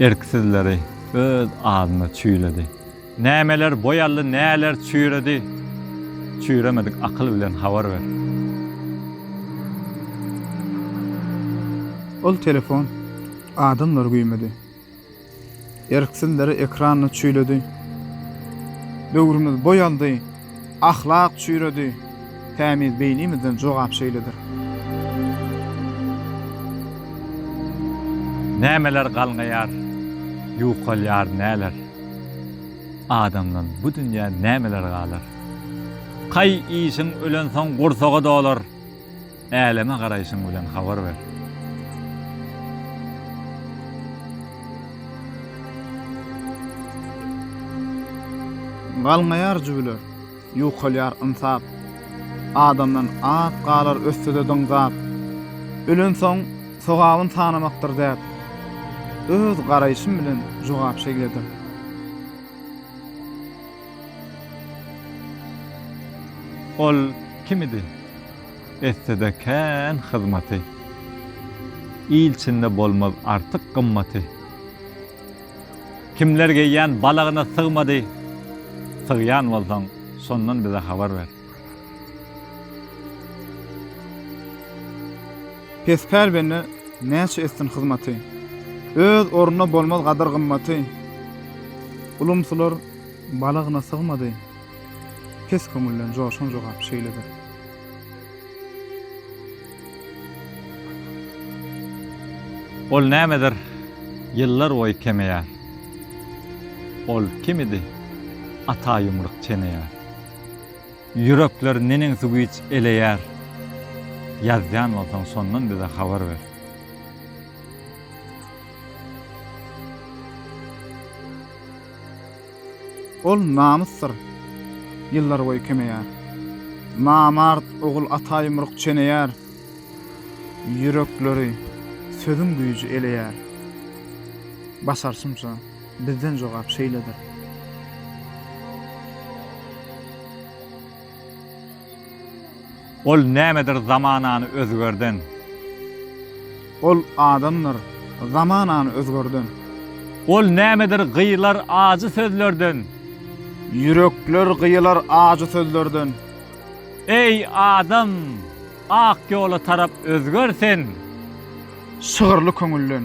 Erksizleri öz adyna çüýledi. Nämeler boýaldy, näler çüýredi, Çüýremedik akyl bilen habar ber. Ol telefon adamlar güýmedi. Erksizleri ekranyny çüýledi. Döwrümiz boýaldy, Ahlak çüýredi, tämiz beýnimizden jogap şeýledir. Nämeler galňaýar, ýukalýar näler? Adamdan bu dünýä nämeler galar? Kaý işiň ölensoň gursaga dolar. Äleme garaýşyň bilen habar ber. Galňaýar jübüler, ýukalýar ynsap. Adamdan at galar ötse-de dyňzap. Ölensoň sogabyn sanamakdyr däp. Öz garaýşym bilen jogap şeýledir. Ol kim idi? etsede kän hyzmaty. Il içinde bolmaz artyk gymmaty. Kimler geýýän balagyna sygmady, sygýan bolsaň şondan bize habar ber. Pespär bende näçe etsin hyzmaty. Öz ornuna bolmaz gadyr-gymmaty. Ulumsylar balagyna sygmady. Pes köňülden joşan jogap şeýledir. Ol nämedir ýyllar boýy kemeýär. Ol kimidi ata ýumruk çeneýär. Ýürekler neneňsi güýç eleýär. Ýazýan bolsaň şondan bize habar ber. Ol namysdyr. Ýyllarboýy kemeýär. Namart ogul ata ýumruk çeneýär. Ýürekleri sözüň güýji eleýär. Başarşymça, bizden jogap şeýledir. Ol nämedir zamanany özgerden. Ol adamdyr zamanany özgerden. Ol nämedir gyýylar ajy sözlerden. Ýürekler gyýylar ajy sözlerden. Eý, adam, ak ýola tarap özger sen. Şygyrly köňülden.